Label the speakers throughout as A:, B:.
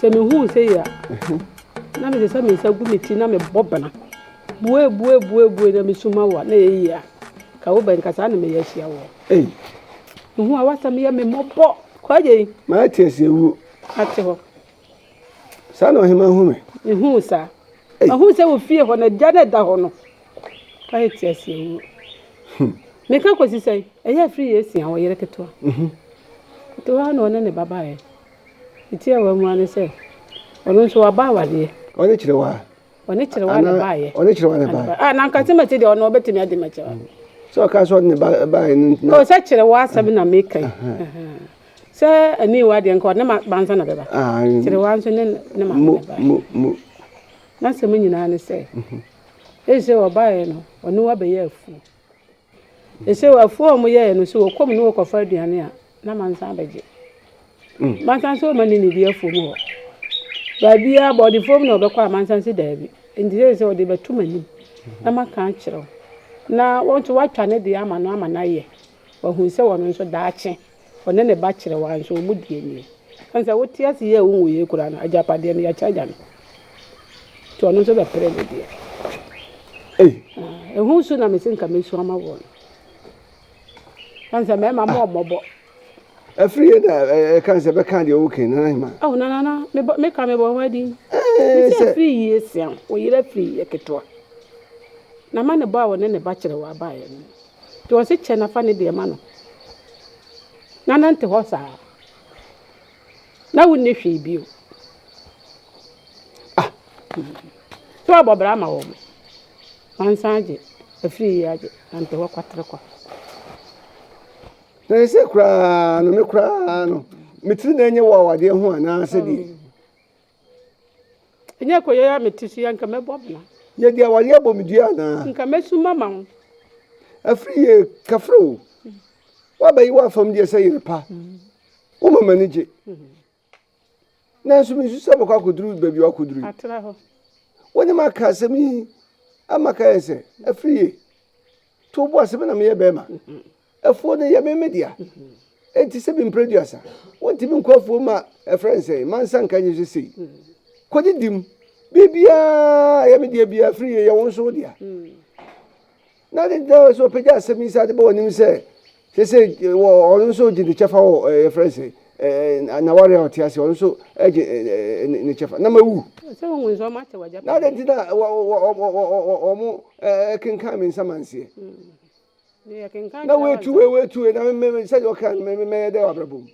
A: Sɛ mihu
B: wo sei a, na mese sɛ me nsa gu me ti na mebɔ bena. Bue, bue, bue, bue na mesu ma wo a, na ɛyɛ yie a. Ka wo bɛn ka saa na meyɛ ahyia wo. Ei! Mehu a w'asɛm yɛ me mmɔbɔ. Kwagyei! Mate aseɛ wuo.
A: Ate hɔ. Saa na ɔhema hu me. Mehu wo saa.
B: Mahu sɛ wɔ fie hɔ na gya na ɛda hɔ no. Kwagyei te aseɛ wuo. Hmm. Meka kɔsi sɛ ɛyɛ afiri yɛ asia wɔ yere ketewa. Mhm. Ketewa na ɔne ne ba baeɛ. Ne tiawa mua ne sɛ, Ɔno nso waba awadeɛ. Ɔne kyerewa.
A: Ɔne kyerewa na
B: baayɛ. Ɔne kyerewa na baayɛ. A
A: na nka sɛ mɛte deɛ ɔno
B: ɔbɛtumi adi ma kyerewa. Sɛ ɔka sɛ ɔde ne
A: ba baayɛ no ntina. O sɛ kyerewa asɛm
B: na meka yi. Sɛ ɛne wa deɛ nka ɔne ba nsa na bɛba. Kyerewa nso ne ne ma na baayɛ.
A: N'asɛm
B: nyinaa ne sɛ, ɛsɛ sɛ ɔbaayɛ no ɔne wa bɛyɛ afuo. Seisei afuo a wɔyɛɛ no sɛ wɔkɔ mu na wɔkɔfa aduane a, na mansa abɛgye. Mansa nso wɔma ne nidi afuo mu hɔ. Baabiara abɔdefoɔ mu na wɔbɛkɔ a mansa nso daabi. Nti sɛ sɛ wɔde bɛto m'anim na maka akyerɛ wo. Na wɔn nso wɔatwa ne deɛ ama no ama no ayɛ. Wɔahu sɛ wɔn nso daakye. Ɔne ne ba kyerɛ wɔn nso wɔn deɛ nie. Ɛne sɛ wote ase yie a wonwu yie koraa no agyapadeɛ no yɛkyɛ agya no. Nti ɔno nso bɛpere ne deɛ. Ei. Ehu su na mesi nka mesu ama wɔn. Ɛne sɛ mmarima mo ɔmɔbɔ. Afiri yɛ
A: da ɛka sɛ bɛka deɛ wokan nana hema. Awo nana na
B: meka mebɔ ho adin. Mesɛ afiri yie sia wo yere afiri yɛ ketewa. Na ma ne bɔ a ɔne ne ba kyerɛ wɔ abaeɛ no. Nti ɔse kyɛ na fa ne deɛ ma no na nante hɔ saa na wonni hwee bio. Ah! Sɛ wabɔ bra ama wɔn wansan agye afiri yi agye nante hɔ kwatere kwa.
A: Na ɛsɛ koraa no me koraa no me tiri na ɛnyɛ wɔ awadeɛ ho anaasɛ deɛ.
B: Ɛnyɛ koyɛ a mete so yi anka mɛbɔ bena. Yɛ deɛ awareɛ abɔ
A: me dua anaa. Nka mɛsu mama wo.
B: Afiri
A: yɛ kafre wo. Woabɛyi w'afam deɛ sɛ yere pa. Woma m'ani gye. Nanso mesu sɛ mɛkɔ akɔduru baabi a wakɔduru yi. Atra hɔ.
B: Wo ne maka
A: asɛm yi ama ka yɛ sɛ afiri ye. To bo ase me na meyɛ bɛrima. Afuo no yɛ me me dea. Enti sɛ me mpire duasa, wontumi nkɔ afuo ma ɛfrɛ nsɛ, ma nsa nka nye sɛ sei. Kɔdi dim. Biribiara yɛ me dea biara firi yɛ yɛ wo nso wo dea. Na ne dɛ sɛ ɔpɛgya asɛm yi saa de bɔ anim sɛ sɛ sɛ wɔ ɔno nso gye ne kyɛfa wɔ ɛyɛ frɛ nsɛ n'aware a ɔte ase ɔno nso gye ne kyɛfa na mawu. Sɛ wɔn
B: nso wɔn akyɛ wɔn
A: agyapade. Na adɛn nti na wɔn kenkan me nsamanseɛ. na woatu wei woatu wei na mmɛmɛ sɛ deɛ ɔka mmɛmɛ mɛyɛ dɛ wabrabɔ mu.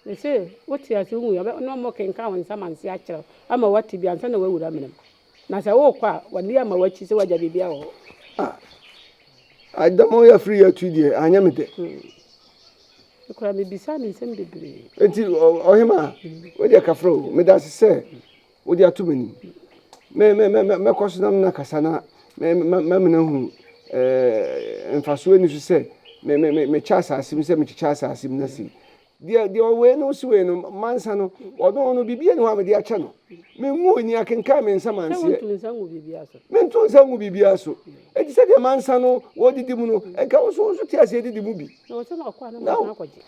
A: Mese
B: wote ase wohu yɛ na ɔmo kenkan wɔn nsɛm anse akyerɛw ama wate bi ansa na wawura amena mu na sɛ wokɔ a wɔde ama wakyi sɛ wagya biribi wɔ hɔ. Ah,
A: adama ɔyɛ afiri yɛ atu deɛ anyɛ me dɛ.
B: Ekura hmm. me bisa ne nsɛm bebree. Eti ɔhema,
A: hmm. wo deɛ kafra o, meda ase sɛ Wode ato m'anim. Mɛkɔ so na me ne no akasa na mama no ahu mfasoɔ a ɛnni so sɛ mekyɛ asase mu sɛ mekyekyɛ asase mu no ase yi. Deɛ ɔwɔ wei no si wei no, mansa no, ɔno no biribiara nni hɔ a mede akyɛ no. Menwoo ni, akenkan me nsa manseɛ. Mentu nsa ngu biribiara so. Enti sɛdeɛ mansa no wɔdidi mu no, nka wo nso wo nso te aseɛ didi mu bi.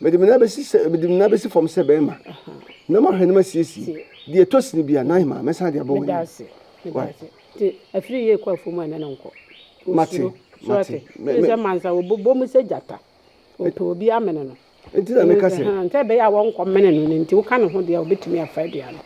A: Mede me nan bɛsi sɛ, mede me nan bɛsi fam sɛ bɛrima, na mahwɛ na masiesie. Deɛ ɛtɔ sini bi a, na ahema, mɛsan de abɔ wɔn anim. Why?
B: Te afiri yie kɔ afuo mu a ne no nkɔ. Mate,
A: mate. Mɛ
B: sɛ mansa wɔbobɔ mu sɛ gyata. Ɔpɛ obi amene no. Nti na meka sɛ.
A: Sɛ ɛbɛyɛ a wɔnkɔ
B: mene no no nti woka ne ho deɛ a ɔbɛtumi afa aduane.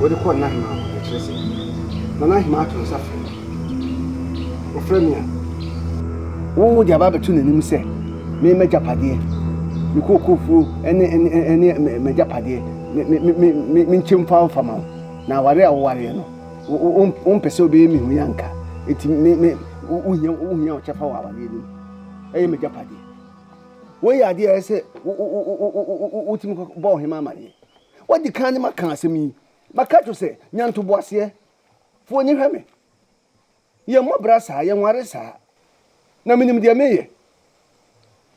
A: Wɔde kɔɔ Nana Hemaa hɔ, na ɛkyerɛ sɛ, Nana Hemaa to nsa frɛ me. Ɔfrɛ me a, wɔde aba abɛto n'anim sɛ me m'agyapadeɛ, me kookofuo ne m'agyapadeɛ, menkyɛ mfa mfa ma wo. Na awareɛ a wowareɛ no, wompɛ sɛ wobɛyɛ me hui anka, enti wohia wo kyɛfa wɔ awareɛ no mu. Ɛyɛ m'agyapadeɛ. Wei yɛ adeɛ a ɛsɛ sɛ wotumi bɔ ɔhemaa amaneɛ. Wadi kan ne maka asɛm yi, maka akyerɛ wo sɛ, nya ntoboaseɛ. Fa w'ani hwɛ me. Yɛmmɔ bra saa, yɛnware saa. Na menim deɛ meyɛ.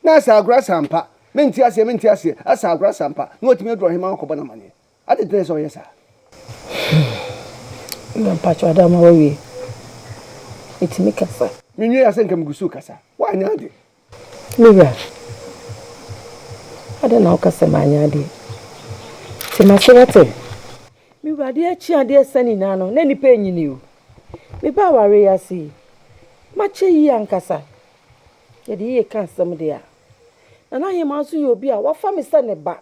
A: Na asɛ agorɔ asa ampa? Mente aseɛ, mente aseɛ. Asɛ agorɔ asa ampa? Na watumi aduru ahemmaa hɔ akɔbɔ no amanneɛ. Adɛn nti na ɛsɛ sɛ ɔyɛ saa?
B: Hmm. Na mpakyɛ ade ama wawie. Metumi kasa. Menwie a sɛ nka megu
A: so rekasa. Woanyɛ ade. Me wura,
B: adɛn na woka sɛ manyɛ adeɛ? Te m'ase na te! Me wura, adeɛ kye adeɛ sa nyinaa no, na nnipa renyini o. Mebaa awareɛ yi ase yi, makyɛ yie ankasa. Yɛde yie ka asɛm deɛ a, Nana Hemaa nso yɛ obi a wafa me sɛ ne ba.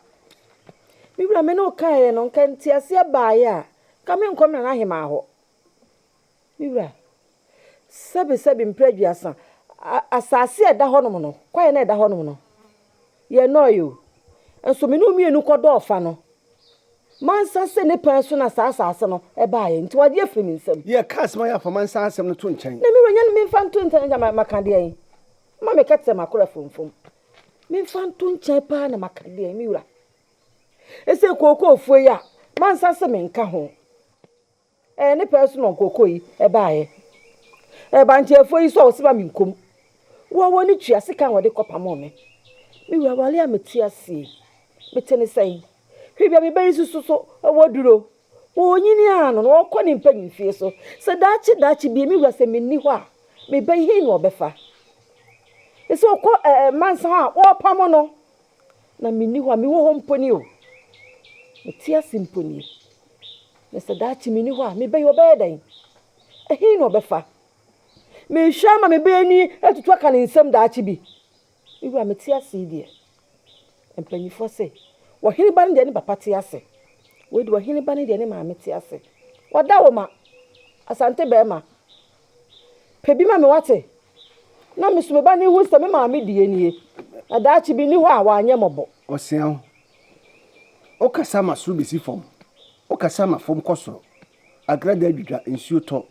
B: Me wura, me ne wo kaeɛ no, anka nteaseɛ baeɛ a, anka merenkɔ Nana Hemaa hɔ. Me wura, sɛbesɛbe mpere aduasa, asase a ɛda hɔnom no, kwaeɛ no a ɛda hɔnom no, yɛnnɔɔeɛ o. Nso me ne wo mmienu kɔdɔɔ fa no. Mansa sɛ ne pɛn so na saa asase no baeɛ, nti wagye afiri me nsam. Yɛka asɛm a ɛyɛ afɔma
A: nsa asɛm no to nkyɛn. Na me wura, nyɛ no memfa nto
B: nkyɛn na maka deɛn? Ma meka te sɛ makora fomfom. Memfa nto nkyɛn paa na maka deɛn, me wura? Ɛsɛ kookoofuo yi a, mansa se menka ho. Ɛɛ ne pɛɛ so na ɔnkɔkɔ yi ɛbaayɛ. Ɛɛ banteɛfoɔ yi so a wɔse ma menkɔm. Woa wɔn ne tua sika a wɔde kɔpamoo me. Me wura wale a mete ase yi, mete ne sɛn? Hwɛ bia me ba yi susu so wɔ duro. Ɔɔnyini ara no na ɔɔkɔ ne mpanin fie so. Sɛ daakye daakye bie me wura sɛ menni hɔ a, me ba yi hei na ɔbɛfa? Ɛsɛ ɔkɔ ɛɛ mansa hɔ a wɔɔpamo no. Na menni hɔ a, mewɔ hɔ mpo nie o. Mete ase mpo nie. Na sɛ daakye menni hɔ a, me ba yi ɔbɛyɛ dɛn? Ɛhe na ɔbɛfa? Merehwɛ ama me ba ani atutu aka ne nsam daakye bi. Me wura, mete ase yi deɛ. Mpanimfoɔ se, Ɔhene ba no deɛ ne papa te ase. Wei deɛ ɔhene ba no deɛ ne maame te ase. Wɔda wo ma. Asante barima, pɛ bi ma me wate. Na me so me ba no hu sɛ me maame deɛ nie. Na daakye bi nni hɔ a wanyɛ mmɔbɔ. Ɔseaho,
A: Wokasa ma soro besi fam, wokasa ma fam kɔ soro, agradaa dwidwa, nsuo tɔ,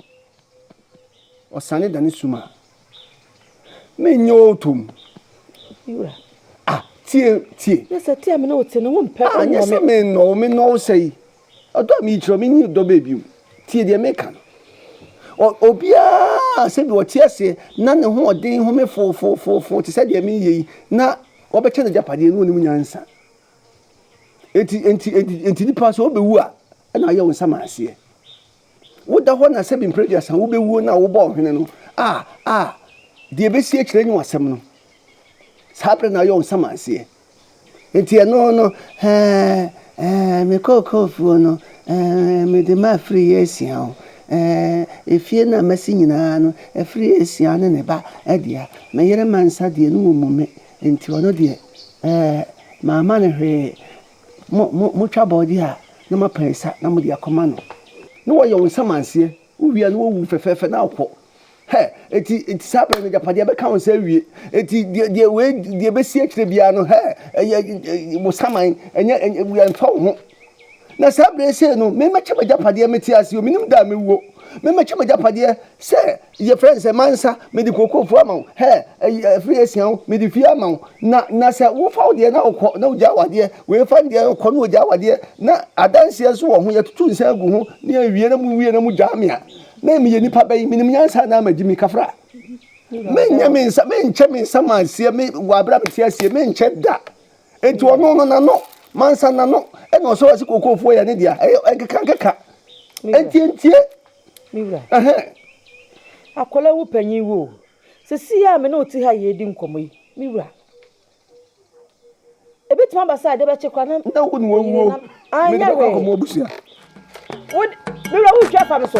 A: ɔsane dane sum a, mennye wo tom. Me wura.
B: Ah, tie,
A: tie. Na sɛ te
B: a me ne wo te no, wompɛ, wonnɔ me. Anyɛ sɛ mennɔ
A: wo, mennɔ wo sɛe. Ɔdɔ a merekyerɛ wo, menni ɔdɔ bɛɛ bio. Tie deɛ meka no. Obiara a sɛdeɛ ɔte aseɛ na ne ho ɔden home foofoofoo te sɛ deɛ mereyɛ yi na wɔbɛkyɛ no agyapadeɛ no ɔnim nyansa. Enti enti enti enti nipa sɛ ɔbɛwu a ɛna ayɛ wo nsa ma aseɛ. woda hɔ na sɛbi mprɛ aduasa wobɛwuo no a wobɔ ɔhwene no a a deɛ ɛbɛsi akyirɛ nye wasɛm no saa berɛ na ayɛ wo nsamanseɛ nti ɛno no ɛɛ ɛɛ mekɔɔ kɔɔfuo no ɛɛ mede ma afiri yɛ asia o ɛɛ efie no a masi nyinaa no afiri yɛ asia ne ne ba adua me yere ma nsa deɛ no wɔ mu me nti ɔno deɛ ɛɛ maama no hwee mo mo motwa abɔɔdeɛ a na moapa nsa na mode akɔma no na wɔyɛ wo nsamanseɛ wowie a na wɔwu wo fɛfɛɛfɛ na wokɔ hɛ eti eti saa bɛrɛ no agyapadeɛ bɛka wo nsa awie eti deɛ deɛ wei deɛ bɛsi akyire biara no hɛ ɛyɛ wo saman ɛnyɛ ɛnyɛ mfa wo ho na saa bere sei no memɛkyɛ m'agyapadeɛ mete ase o menim da a mewuo memɛkyɛ m'agyapadeɛ sɛ Yɛfrɛ no sɛ mansa, mede kookoofuo ama wo, hɛ, ɛyi, ɛfiri asia wo, mede fie ama wo, na, na sɛ wofa wo deɛ na wokɔ, na wogyae w'adeɛ, wei fa ne deɛ na ɔkɔ na ɔgyae w'adeɛ, na adanseɛ nso wɔ ho, yɛtutu nsa agu ho, na yɛwie na mowie na mogyaa me a, na meyɛ nipa bɛn? Menim nyansa anaa magyi me kafra? Menyɛ me nsa, menkyɛ me nsa ma aseɛ, me, wɔ aberɛ a mete aseɛ, menkyɛ da. Enti ɔno no n'ano, mansa n'ano, ɛna ɔsɔ ɔse kookoofuo yɛ ne dea, ɛyɛ, ɛnkeka nkeka, ɛntientie. Me
B: wura, ɛhɛn, akwadaa wu panyin wu o, seesei a me ne wo te ha yi redi nkɔmmɔ yi, me wura, ebetumi aba sɛ ade bɛkye koraa na. Nyɛ wo na wawuo,
A: mede bɛkɔ akɔma abusua.
B: Me wura, wotwa fa me so.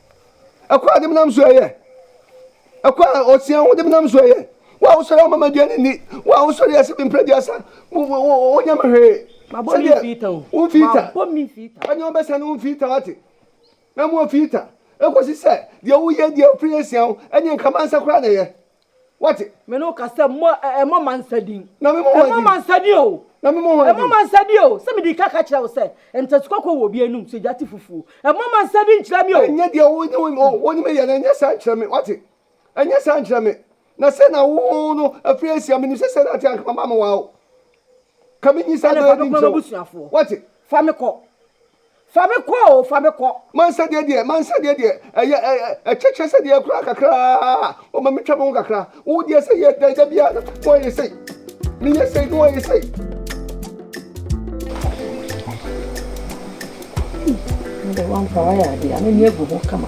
A: ɛkwan a de menam so ɛyɛ ɛkwan a ɔsia ho de menam so ɛyɛ wo a wosɔre ama madua ne ni wo a wosɔre ɛsɛ me mpere duasa wonya me hwee sɛdeɛ
B: womfii ta
A: ɛne
B: ɔbɛsa no womfii ta
A: wate na mu ɔfii ta ɛkɔsi sɛ deɛ woyɛ deɛ ɔfiri asia wo ɛne nkamansa koraa na ɛyɛ Wate? Me ne wo ka sɛ mmɔ
B: ɛ ɛmmɔ ma nsa din. Na me mmɔ Ɛmmɔ ma
A: nsa din o.
B: Na me mmɔ Ɛmmɔ ma
A: nsa din o.
B: Sɛ mede ka ka kyerɛ wo sɛ ntɛsi kɔkɔɔ wɔ obi anum sɛ gya te fufuo. Ɛmmɔ ma nsa din nkyerɛ me o. Ɛnyɛ deɛ wo ne wo o
A: wo ne me yɛ no ɛnyɛ saa nkyerɛ me. Wate? Ɛnyɛ saa nkyerɛ me. Na sɛ na wo no afiri asia menim sɛ sɛ na ate anka mama me waa o. Ka me nyi saa dɔ yɛ din nkyerɛ wo. Wate? Fa me kɔ.
B: Fa me kɔ o, fa me kɔ.
A: M'ansɛdeɛ deɛ, m'ansɛdeɛ deɛ, ɛyɛ ɛ ɛ ɛkyɛ kyerɛ sɛ deɛ koraa kakraa o ma metwa me ho kakra. Wo deɛ sɛ yɛ dɛn da biara na wɔyɛ sei, meyɛ sei na wɔyɛ sei.
B: Ɛde wɔn mpa wɔyɛ adeɛ, ano ni agu ho kama.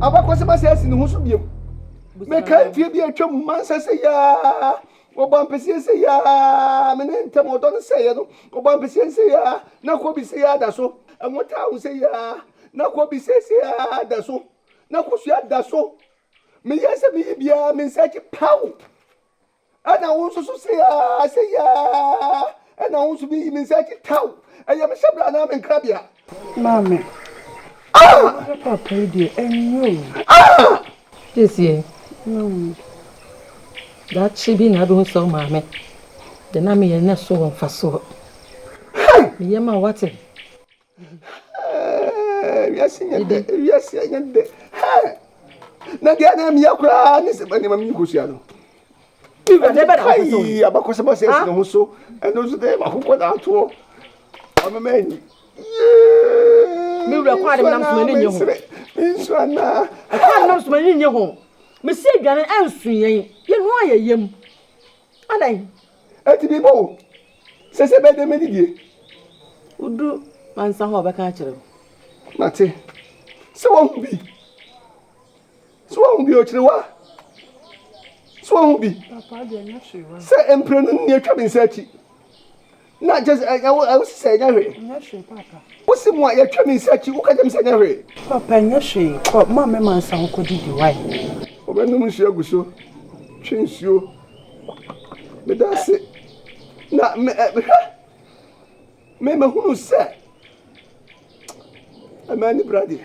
A: abakɔsɛm asɛ asi ne ho so biom mekae mfeɛ bi atwa mu mansa sɛ yaa wɔbɔ ampeseɛ sɛ yaa me ne ntam ɔdɔ no sɛeɛ no wɔbɔ ampeseɛ sɛ yaa na kɔ bi sɛ yaa da so ɛnwo taa wo sɛ yaa na kɔ bi sɛ sɛ yaa da so na kosua da so meyɛ sɛ meyi biara me nsa akyi paw Ɛna wo nso so sei aa sei aa ɛna wo nso bi yi me nsa akyi taw ɛyɛ me hyɛbrɛ anaa me nkrabea. Maame.
B: Ah! Wo ne papa yi deɛ ɛnyɛ o. Ah! Siesie. Nom. Daakye bi na wobɛhu sɛ wo maame de na meyɛ no so wɔ mfasoɔ. Hey! Me yam a wate.
A: Wiase nyɛ dɛ, wiase nyɛ dɛ. Na deɛ na meyɛ koraa ne sɛ nneɛma mi nkosua no. Kai abakɔsɛm asɛ ɛsene ho so ɛno nso dɛ makokɔ na atoɔ ɔmema ani mewura kɔ ade menam soma ne nye ho mensu anaa ɛkɔ ade menam soma ne nye ho mesi aduane ansu yɛn yɛnu ayɛ yam Adɛn nti biribi wɔ sɛ sɛ bɛdɛ me didie. Wodu mansa hɔ a ɔbɛka akyerɛ wo. Mate sɛ wahu bi sɛ wahu bi ɔkyerɛwa sɛ wahu bi sɛ mprenu nni atwa me nsa akyi Na nkyɛ sɛ ɛnyɛ wo a, wo se sɛ ɛnyɛ hwee. Ɛnyɛ hwee paapa. Wo se mo a yɛtwa me nsa akyi, wo ka kyerɛ me sɛ ɛnyɛ hwee. Paapa ɛnyɛ hwee, kɔ, ma mɛma nsa ho kɔ didi, wai. Ɔbɛnom nsuo agu so, twe nsuo, meda ase, na me, ɛ, hwɛ, me, mahunu sɛ, ɛmaa ani bra deɛ.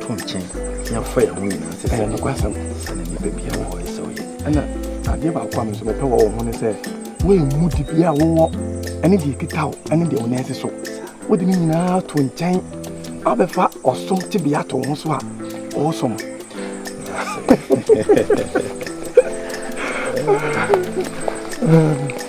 C: to nkyɛn na yɛafa yɛn ho nyinaa sɛ ɛyɛ nokwasɛm sɛ
D: na
C: nnipa
D: biara
C: wɔ hɔ yɛ sɛ woyɛ ɛna adeɛ
D: baako a me nso mepɛ wɔ wo ho ne sɛ woammu de bi a wowɔ ɛne deɛ ɛkita wo ɛne deɛ wo nan si so wode ne nyinaa to nkyɛn abɛfa ɔsom tebea to ho so a ɔsom um,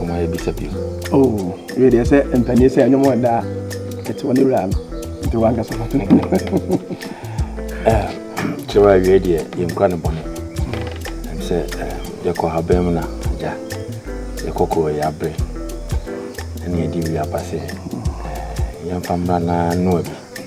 E: Ɔma
C: yɛ bisa bi. Oh, yɛ
D: deɛ sɛ mpanin sɛ ɛnyɛ wɔn da ɛte wɔn wura no nti wɔn ankasa fa to.
C: Kyerɛ awie deɛ yɛn kura ne bɔne. Ɛm sɛ yɛkɔ ha bɛn mu na agya yɛkɔ kɔ yɛ abere ɛne yɛde wi aba sɛ yɛmfa mmra na noa bi.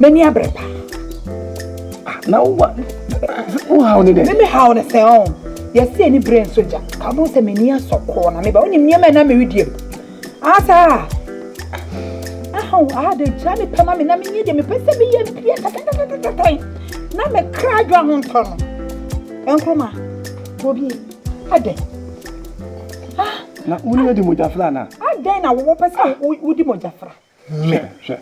E: M'ani abere pa.
D: Ah, na wo wa wo haw ne dɛ. Me me haw ne sɛ ɔn. Oh.
E: Yɛsi ani bere nso gya. Ka ɔmo sɛ m'ani asɔ kɔɔ na me ba. Onim nneɛma na me redie. Asa. Ahaw aha de gya me pɛ ma me na me nyɛ deɛ mepɛ sɛ meyɛ mpie tɛtɛtɛtɛtɛn. Na me kra adwa ho ntɔ no. Ɛnkroma. Bobi. Adɛ. Ah.
D: Na wone adi mogyafra na? Adɛn na wowɔ pɛ
E: sɛ wodi mogyafra? Hwɛ, hwɛ,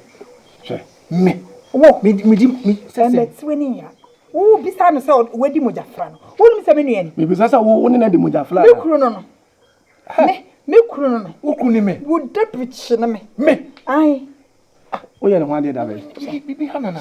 E: hwɛ,
D: me. Wo, me, me di,
E: me. Sɛ sɛ. Ɛmɛtiwe ne nyina. Wo bisa no sɛ wadi mogya fra no. Wo nim sɛ me nua ni. Me bisa sɛ wo, wo ne na di
D: mogya fra. Me kuru no no. Me,
E: me kuru no no. Wo kuru ni me. Wo debikyi no me. Me. Ayi. Ah, wo yɛ
D: ne ho adeɛ da bɛ. Bibi, bibi ha nana.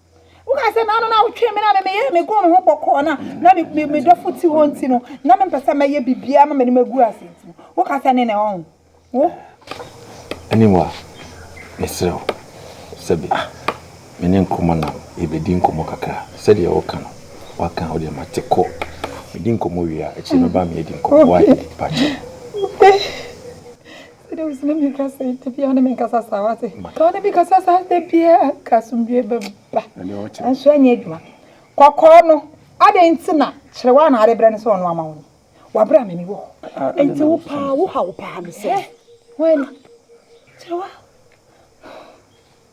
E: woka sɛ naano na wotwee me na me meyɛ me gɔn ho bɔkɔɔ na na me me me dɔfo ti hɔ nti no na me mpɛ sɛ mɛyɛ biribiara ma m'anim agu ase nti no woka sɛ ne na ɛwɔ ho wo Anyway,
C: mesrɛ wo sɛbi me ne nkɔmmɔ na yɛbɛdi nkɔmmɔ kakra sɛdeɛ woka no woaka a wodeɛ mate kɔ medi nkɔmmɔ wie a akyire mɛba me yɛadi nkɔmmɔ why pakyɛ.
E: Sɛdeɛ wosi ne me kasa yi da biara wo ne me nkasa saa wate ka wo ne me kasa saa da biara anka asomdwie bɛba nanso ɛnyɛ adwuma kɔkɔɔ no adɛn nti na kyerɛ wo anaade berɛ no sɛ ɔno ama wo ni wabrɛ a memi wɔ hɔ nti wo paa wo ha wo paa no sɛ wani kyerɛ wa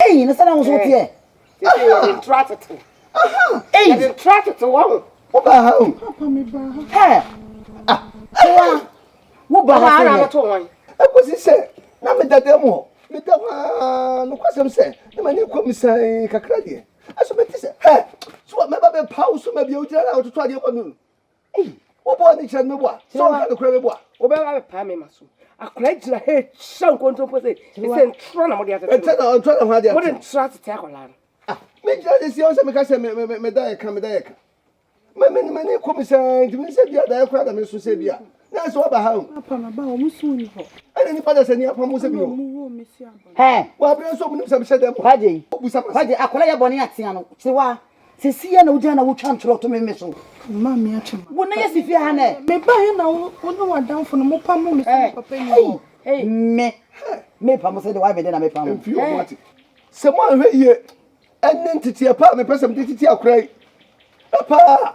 E: Eyi ne sɛ na ahosuo teɛ. Sisi yɛ de ntura
B: tete. Eyi yɛ de ntura tete wɔ ho. Wo ba ha o.
A: Papa mi ba ha.
B: Hɛ. Ah.
E: Wa. Wo ba ha kɛnɛ. Ekosi
A: sɛ na me dada mu hɔ. Me da hɔ aa nokwasɛm sɛ na m'ani kɔ mu sann kakra deɛ. Ɛso mete sɛ hɛ. So mɛba bɛpa wo so ma bia wogyina na wototo adeɛ bɔ me o. Ei, wobɔ ani kyerɛ no meboa. Sɛ ɔnka no kura meboa. Wobɛba abɛpaa me ma so.
B: Akwadaa gyina ha ekyia nkontompo sɛ ɛsɛ ntorɔ na mode atete. Ɛtɛ na ntorɔ na ho ade atete. Mode
A: ntorɔ atete akwadaa
B: no. Ah, me gyina de
A: si ɔn sɛ meka sɛ me me me da yɛ ka me da yɛ ka. Me me me ne kɔ me sɛ nti me sɛ bi a da yɛ kora da me so sɛ bi a. Na ɛsɛ waba ha o. Papa ma ba
B: wɔn so ni hɔ. Ɛna nipa da sɛ ni
A: apam sɛ bi o. Hɛ.
E: Wɔ abirɛ nso ɔmo nim
A: sɛ me hyɛ dɛm. Kwagye. Obusa ma sɛ. Kwagye
E: akwadaa yɛ bɔ ne atea no. Tiwa. Sɛ si yɛ na wogyina na wotwa ntorɔ to me me so. Mma me atwe m'adaka.
B: Wo na yɛ si fie ha nɛ.
E: Me ba he na wo
B: ne w'adamfo no mo pamo me sɛ me papa nni hɔ. Ei me
E: me pamo sɛ deɛ w'ayɛ me dɛ na me pamo. Mfie ɔmo ate.
A: Sɛ moanhwɛ yie ɛne nteteɛ pa a mepɛ sɛ mede tete akora yi paa.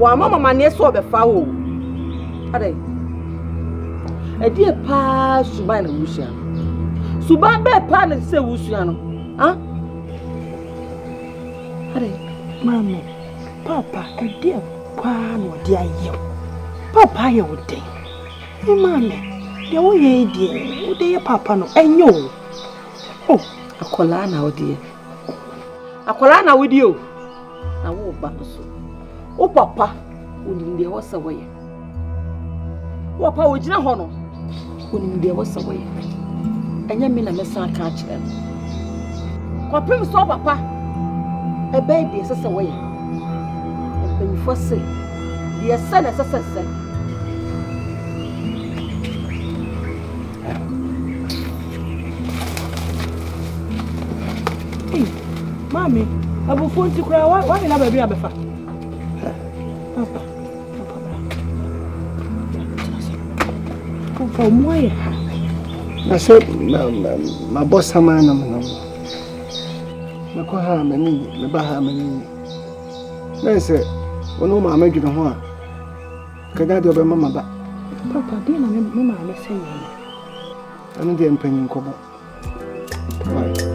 B: wɔama mo amanneɛ sɛ ɔbɛfa wo adɛn ɛdeɛ paa suban na wosua no suban bɛɛ paa na ɛsɛ sɛ wosua no Ah? Ade, maame,
E: papa, ɛdeɛ paa na ɔde ayɛ wo. Papa ayɛ wo dɛn? Ɛ maame, deɛ woyɛ yi deɛ, wode yɛ papa no, ɛnyɛ o. O, akwadaa na wodeɛ. Akwadaa na wodeɛ o. na wo ba nso wo papa onim deɛ ɛwɔ sɛ wɔyɛ wo papa ogyina hɔ no onim deɛ ɛwɔ sɛ wɔyɛ ɛnyɛ me na mɛsan aka akyerɛ no kɔpem sɛ wo papa ɛbɛyɛ deɛ ɛsɛ sɛ wɔyɛ mpanyinfoɔ se deɛ sɛ na ɛsɛ sɛ sɛ Ei, maame, abufuo nti koraa wa wa nyina baabi abɛfa. Papa, papa bra. Papa, ɔmo ayɛ ha.
A: Na sɛ mabɔ saman na menam no, mekɔ ha a m'ani nye, meba ha a m'ani nye. Na sɛ wɔne wo maame dwene ho a, Kagya deɛ ɔbɛma ma ba. Papa, deɛ na me me maame sɛ yɛ no. Ɛno deɛ mpanyin kɔbɔ. Bye.